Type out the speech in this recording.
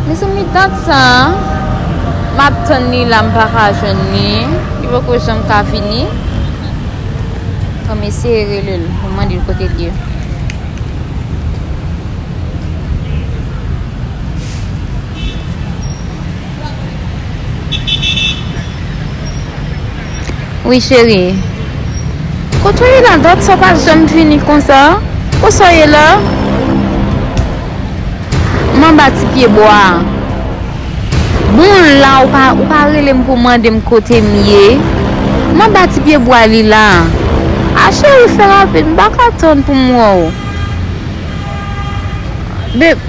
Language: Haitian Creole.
Mezanmi dat sa map tann li la mpaka jwenn li li poko janm ka vini fòm eseye relel poum mandel kotel ye. Wi cheri. Kot ou ye la dat sa pa janm fini konsa Kot sa ou ye la M anba ti pye bwa a Bon la ou pa ou pa rele m pou mande m kote m ye M anba ti pye bwa li la A cheri fè rapid m pa ka tann pou m wè w Be.